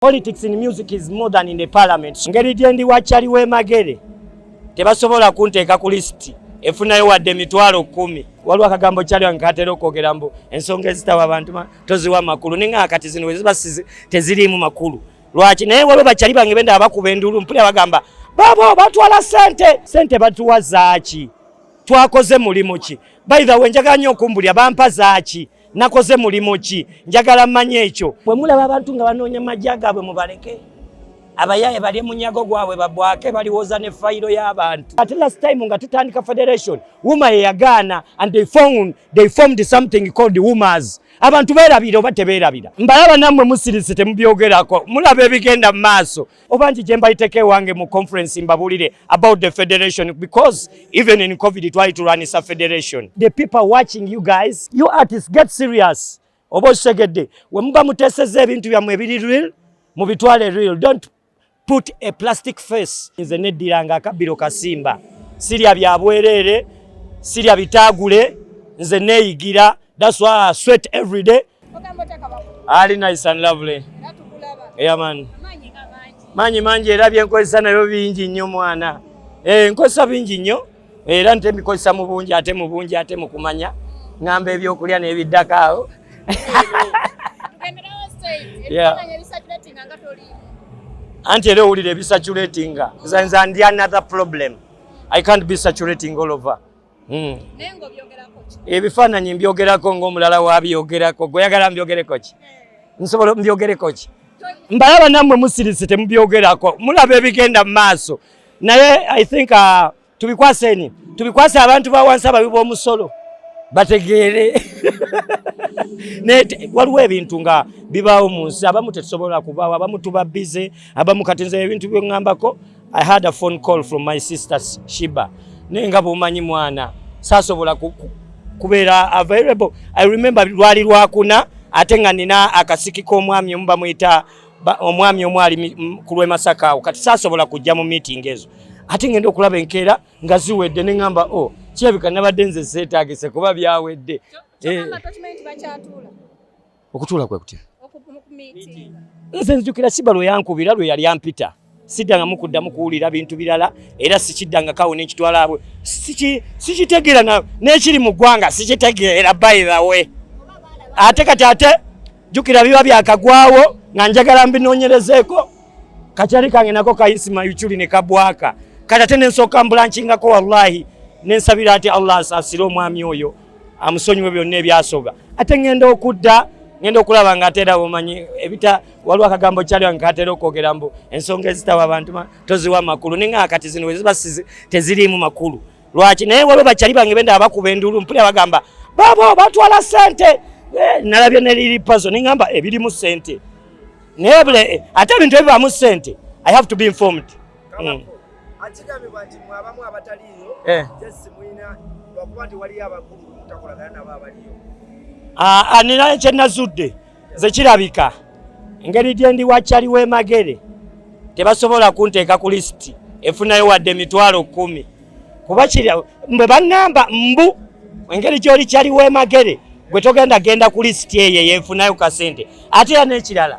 Politics in music is more than in the parliament. Ngeri gyendi wa Chali Wemagere tebasobola kunteeka ku lisiti efunayo wadde emitwalo kumi. Waliwo akagambo Chali wange katera okwogera mbu ensonga ezitawa abantu toziwa makulu naye nga kati zino weziba teziriimu makulu lwaki naye waliwo bakyali bange benda abakuba enduulu mpulira bagamba babo batwala sente sente batuwa zaaki twakoze mulimu ki by the way njagala nnyo okumbulira bampa zaaki nakoze mulimu ki njagala manya ekyo bwe mulaba abantu nga banoonya majja gaabwe mubaleke abayaye bali munyago gwabwe babwake baliwoza ne fayiro y'abantu ate last time nga tutandika federation wuma yeyagaana and they found they formed something called womas abantu beerabira oba tebeerabira mbalaba nammwe musirise temubyogerako mulaba ebigenda mu maaso obangi gye mbayiteko ewange mu conference mbabulire about the federation because even in covid twali tulwanisa federation the people watching you guys you artists get serious oba okitegedde we muba muteseza ebintu byammwe ebiri real mubitwale real don't put a plastic face nze neddiranga akabbiro kasimba sirya bya bwereere sirya bitaagule nze neeyigira that's why I sweat every day ali nice and lovely yeah man manyi mangi era byenkozesa nabyo bingi nnyo mwana eh, nkozesa bingi nnyo era nte mbikozesa mu bungi ate mu bungi ate mu kumanya ngamba ebyokulya n'ebiddako awo anti era owulira ebisaturatinga nze ndi another problem i can't be saturating all over Hmm. ebifaananyi mbyogerako ngaomulala wabyogerako gweoyagala mbyogereko ki eh. nsobola mbyogereko ki mbalaba nammwe musirise temubyogerako mulaba ebigenda mu maaso naye i think uh, tubikwaseni tubikwase abantu bawansi ababi b'omusolo bategeere waliwo ebintu nga bibaawo mu nsi abamu tetusobola kubaawo abamu tuba bize abamu kati nze ebintu byeŋŋambako I had a phone call from my sister Shiba naye nga bwomanyi mwana saasobola kubeera available I remember lwali lwakuna ate nga nina akasiki k'omwami omu bamuyita omwami omu ali ku lw'e Masaka awo kati saasobola kujja mu meeting ezo ate ngenda okulaba enkeera nga ziwedde ne ŋŋamba o oh, kirabika nabadde nze seetaagise kuba byawedde eh. Okutuula kwe kutya? Nze nzijukira Siba lwe yankubira lwe yali ampita siddangamu kuddamu kuwulira bintu birala era sikiddangakawo nekitwalaabwe sikitegeera n'ekiri mu ggwanga sikitegeera by the way ate kati ate jjukira biba byakagwawo nga njagala mbinoonyerezeeko kakyali kange nako kayisima yuculi ne kabwaka kati ate nensooka mbulankingako wallahi nensabira ati allah asaasire omwami oyo amusonyiwe byonna ebyasoga ate ngenda okudda ngenda okulaba nga ate era omanyi ebita waliwo akagambo kyali wange katera okwogera mbu ensonga ezitawa abantu toziwa makulu ninga akati zino weziba teziriimu makulu lwaki naye waliwo bakyali bange benda abakuba endulu mpuli abagamba baba batwala sente eh, nalabye neliri pazo ningamba ebirimu sente naye eh, ate ebintu ebibaamu sente i have to be informed mm. akigambibwa nti mwabamu abataliiyo eh. jesi mulina lwakuba nti waliyo abakulu mutakolagana nabo abaliyo anina ah, ah, kyenazudde nze kirabika engeri gyendi wakyali w'emagere tebasobola kunteeka ku lisiti efunayo wadde emitwalo kumi kuba kiri mbe baŋŋamba mbu engeri gy'oli kyali w'emagere gwe togenda genda ku lisiti eyo eyefunayo kasente ate era n'ekirala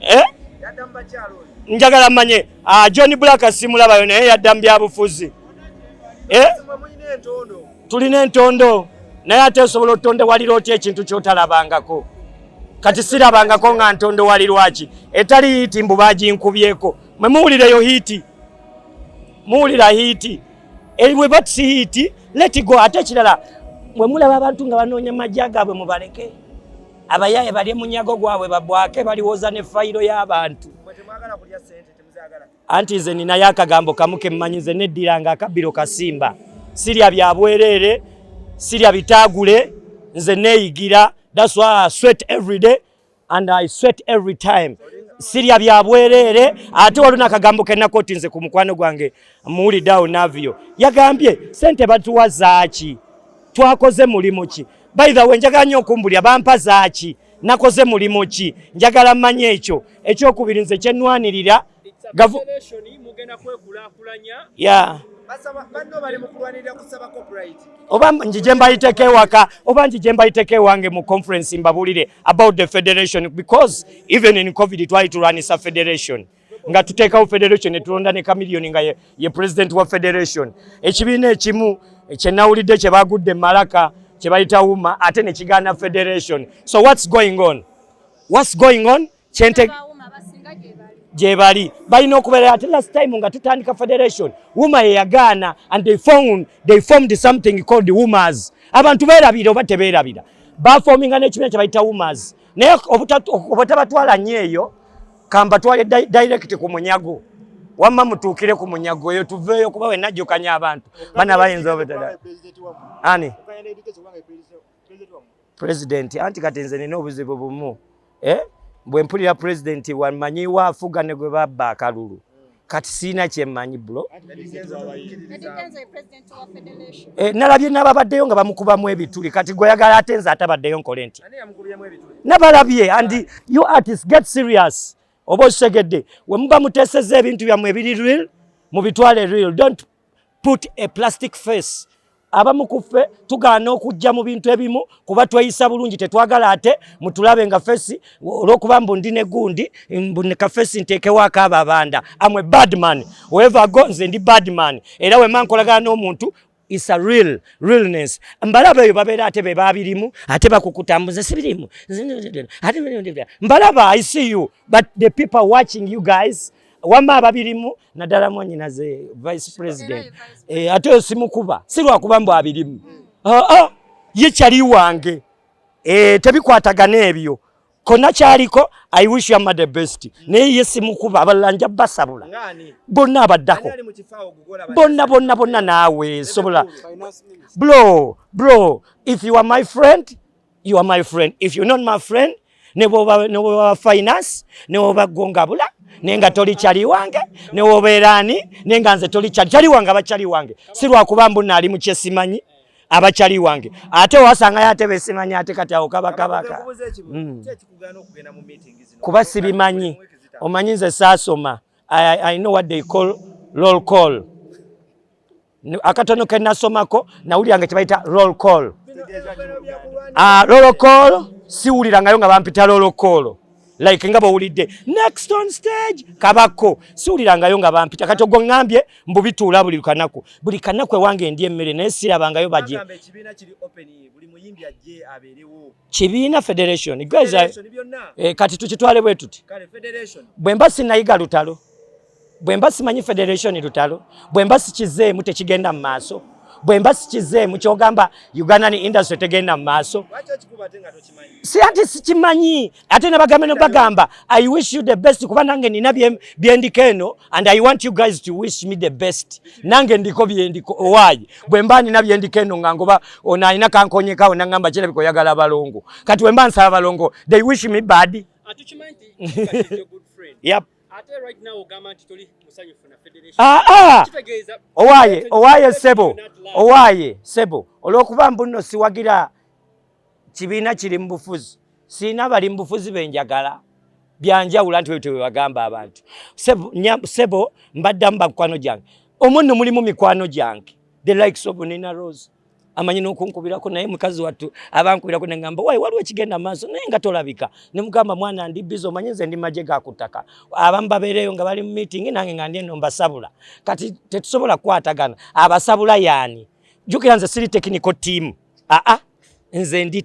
eh? njagala manye ah, john black simulabayo naye yadda mu byabufuzi eh? tulina entondo naye ate osobola otondewalira otya ekintu kyotalabangako kati sirabangako nga ntondewalirwaki etali hiiti mbu baginkubyeko mwe muwulireyo hiiti muwulira hiiti eriwe eh, batisi hiiti letigo ate ekirala bwe mulaba abantu nga banoonya majja gaabwe mubaleke abayaye balye munyago gwabwe babwake baliwoza ne fayiro y'abantu anti nze ninayo akagambo kamu kemmanyi nze neddiranga akabbiro kasimba sirya bya bwereere sirya bitaagule nze neeyigira thats why i sweat every day and i sweat every time sirya bya bwereere ate waliwo nakagambo kenakoti nze ku mukwano gwange muwuliddeawo navio yagambye sente batuwa zaaki twakoze mulimu ki By the way njagala nnyo okumbulira bampa zaaki nakoze mulimu ki njagala mmanya ekyo ekyokubiri nze kyenwanirira oba njije mbayiteko ewaka oba njije mbayiteko ewange mu conference mbabuulire about the federation because even in covid twali tulwanisa federation nga tuteekawo federation netulonda ne kamiliyoni nga ye, ye president wa federation ekibiina ekimu kyenawulidde kyebagudde malaka kyebayita wuma ate nekigaana federation so whats going on whats going on kyente gyebali balina okubeera ate last time nga tutandika federation wuma yeyagaana and they found, they formed something called wumers abantu berabira oba teberabira bafominga nekibiina kyebayita wumers naye obutabatwala nyo eyo kambatwale direct ku munyago wamma mutuukire ku munyago eyo tuveeyo kuba we najjukanya abantu bana bayinza obutada ani president anti kati nze nina obuzibu bumu eh? bwe mpulira president wamanyiwo afuga ne gwe babba akalulu kati sirina kyemmanyi bulo eh, nalabye nababaddeyo nga bamukubamu ebituli kati gweyagala ate nze atabaddeyo nkole nti nabalabye and you artist get serious oba okitegedde wemuba muteseza ebintu byammwe ebiri real mubitwale real don't put a plastic face abamu kuffe tugaana okujja mu bintu ebimu kuba tweyisa bulungi tetwagala ate mutulabe nga fesi olwokuba mbu ndi negundi mbuka fesi ntekewaako abo abanda amwe badman weva go nze ndi badman era wema nkolagana n'omuntu is a real realness mbalaba eyo babeera ate be babirimu ate bakukutambuza sibirimu mbalaba i see you but the people watching you guys wamma ababirimu naddala mwanyinaze vice president eh, ate oyo simukuba si lwakuba mbu abirimu ah, ah, ye kyali wange eh, tebikwatagana ebyo kona kyaliko i wish you the best naye ye simukuba abalala nja basabula bonna abaddako bonna bonna bonna naawe sobola bro bro if you are my friend you are my friend if you not my friend ne bwoba ne bwoba finance ne bwoba gongabula ne nga toli chali wange ne bwoba erani ne nga nze toli chali chali wange abachali wange si lwa kuba mbu nali mu kyesimanyi abachali wange ate wasanga yate besimanyi ate kati awo kaba kabaka mm. kuba sibimanyi omanyi nze saasoma I, I know what they call roll call akatono ke nasomako nawulira nga kyebayita roll call ah, roll call siwulirangayo nga bampita roll call like nga bowulidde next on stage kabako siwulirangayo nga bampita kati ogwo ŋambye mbu bituula buli kanaku buli kanaku ewange ndi emmere naye sirabangayo baje kibiina federation eh, kati tukitwale bwe tuti bwe mba sinayiga lutalo bwe mba simanyi federation lutalo bwe mba sikizeemu tekigenda mu maaso bwe mba sikizeemu kyogamba ugandan industry tegenda mu maaso si ati sikimanyi ate nabagambe no bagamba i wish you the best kuba nange nina byendiko eno and i want you guys to wish me the best nange ndiko byendiko owaayi bwe mba nina byendiko eno nga ngoba ono alina kankonyekawo nangamba kirabika oyagala abalongo kati bwe mba nsaba abalongo they wish me bad yep. Ah, ah! owaye owaye sebo owaye sebo olwokuba mbuno siwagira kibiina kiri mu bufuzi siina bali mu bufuzi benjagala byanjawula nti wetwe webagamba abantu sebo, sebo mbaddamu bakwano gyange omunno mulimu mikwano gyange the likes of nina rose amanyi n'okunkubirako naye mukazi wattu abankubirako ne ngamba wayi waliwo ekigenda maaso naye nga tolabika ne mugamba mwana ndi bizi omanyi nze ndi magye ga ku ttaka abamu babeereeyo nga bali mu miitingi nange nga ndi eno mbasabula kati tetusobola kukwatagana abasabula yaani jjukira nze siri tekiniko tiimu aa nze ndi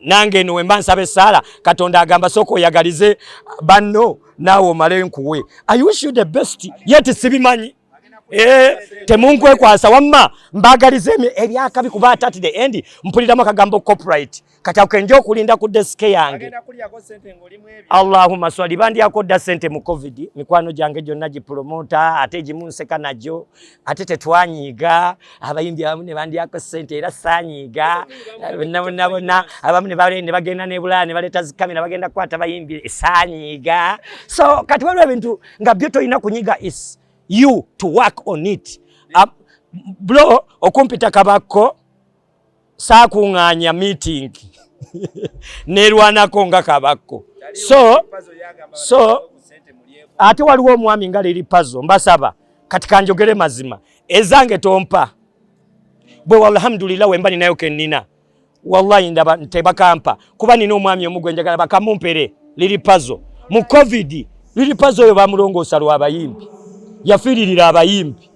nange eno wemba nsaba esaala katonda agamba sooka oyagalize banno naawe omale nkuwe i wish you the best yet sibimanyi Eh, temunkwekwasa wamma mbagaliza ebyakabi kuba atati the end mpuliramu akagambo copyright kati ako kenja okulinda ku desk yange allahuma swali bandyako dda sente mu covid mikwano gyange gyonna gipromota ate gimunseka nagyo ate tetwanyiiga abayimbi abamu ne bandyako ssente era saanyiiga bonnabonnabonna abamu ne bagenda nebulaya ne baleeta zikamera bagenda kukwata bayimbi saanyiiga so kati waliwo ebintu nga byo tolina kunyiga is you to work on it blo okumpita kabakko saakuŋŋaanya miitingi neerwanako nga kabakko so so ate waliwo omwami nga liri pazo mbasaba kati kanjogere mazima ezange tompa bwe walhamdulillah wemba ninayo kennina wallahi ndaba tebakampa kuba nina omwami omu gwe njagala bakamumpere liri pazo mu covid liri pazo oyo bamulongoosa lwabayimbi yafiiririra abayimbi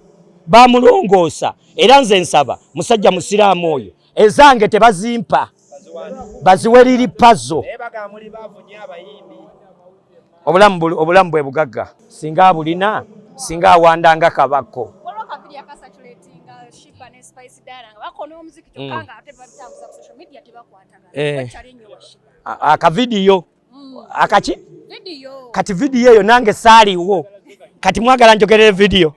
bamulongoosa era nze nsaba musajja musiraamu oyo ezange tebazimpa baziwe liri pazo obulamu bwe bugagga singa abulina singa awandanga kabako akavidiyo mm. eh. akavidiyo mm. akaki kati vidiyo eyo nange saaliwo kati mwagala njogerere vidiyo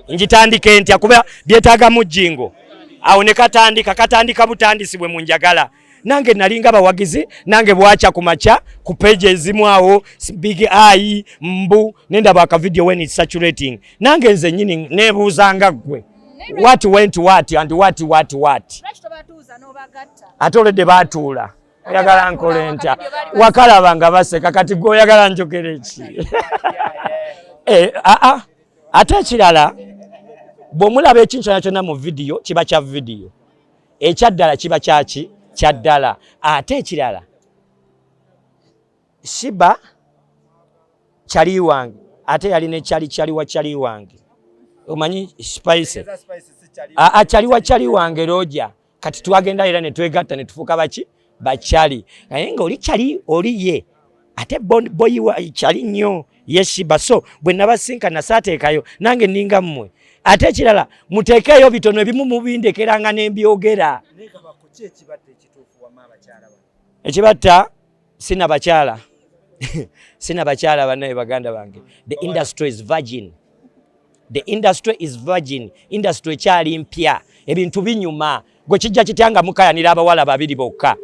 njitandike ntya kuba byetaaga mujjingo awo ne katandika katandika butandisi bwe munjagala nange nalinga bawagizi nange bwakya ku makya ku peji ezimu awo big eye mbu nendaba akavidiyo wen is saturating nange nze nyini nebuuzanga ggwe what went what and what what what ate oledde baatuula oyagala nkole ntya wakalaba nga baseka kati gwe oyagala njogera eki eh, ah, ah. ate ekirala bwomulaba ekintu kyona kyonna mu vidiyo kiba kya vidiyo ekyaddala kiba kyaki kyaddala ate ekirala shiba kyali wange ate yali ne kyali kyali wa kyali wange omanyi spice akyali wa kyali wange roja kati twagenda era ne twegatta ne tufuuka baki bachali naye nga oli chali oli ye ate boyi wa chali nnyo yeshiba so bwe nabasinkana saateekayo nange ninga mmwe ate ekirala muteekeeyo bitono ebimu mubindekeranga ne mbyogera ekibatta sina bakyala sina bakyala banaye baganda bange the industry is virgin the industry is virgin industry ekyali mpya ebintu binyuma gwe kijja kitya nga mukayanira abawala babiri bokka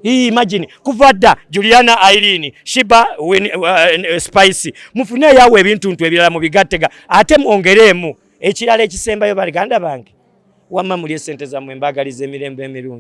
imagine kuva dda juliana irene shiba win, uh, uh, spice mufune yawe ebintu ntu ebirala mubigattega ate mwongereemu ekirala ekisembayo baganda bange wamma muli esente zamwe mbagaliza emirembe emirungi